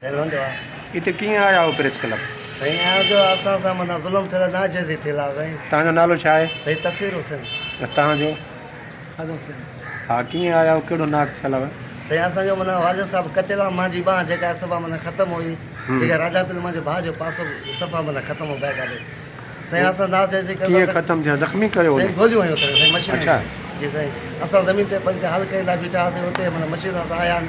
Feel هوندو آ. هتي ڪيئن آيا آهيو پريس ڪلب؟ سائين ايان جو اسان سان معنيٰ ظلم ٿيل آهي ناجائزي ٿيل آهي سائين. تهان جو نالو ڇا آهي؟ سائين تصوير حسين. ۽ تهان جو؟ اعظم حسين. ها ڪيئن آيا آهيو ڪهڙو ناڪ ٿيل آهي؟ سائين اسان جو معنيٰ والد صاحب قتل آهن مانجي ٻانهن جيڪا آهي صفا معنيٰ ختم هئي جيڪا راجا پل مانجي ڀاء جو پاسو صفا معنيٰ ختم هو بيڪ آڏي سائين اسان ناجائزي ڪري ڪيئن ختم ٿيا زخمي ڪيو هو؟ سائين گوليون هنيو ڪري سائين مشينن اڇا. جي سائين اسان زمين تي پنک حل ڪري لاء بيٺا هئاسين اتي معنيٰ مشينن سان آيا آهن.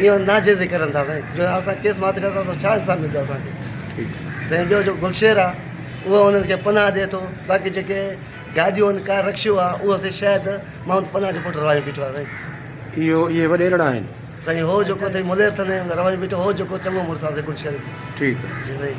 اهو ناجائز ئي ڪرن ٿا سائين جو اسان ڪيس مات ڪريو ٿا سو ڇا انصاف ملندو اسان کي سائين ٻيو جو گلشير آ اهو انهن کي پناهه ڏي ٿو باقي جيڪي گاڏيون آهن ڪار رڪشو آ اهو سائين شايد محمد پناهه جو پٽ روايو بيٺو آ سائين اهو اهي وڏيرڙا آهن سائين هو جيڪو اٿئي ملير ٿاني روايو بيٺو هو جيڪو چڱو مڙس آ سائين گلشير ٺيڪ جي سائين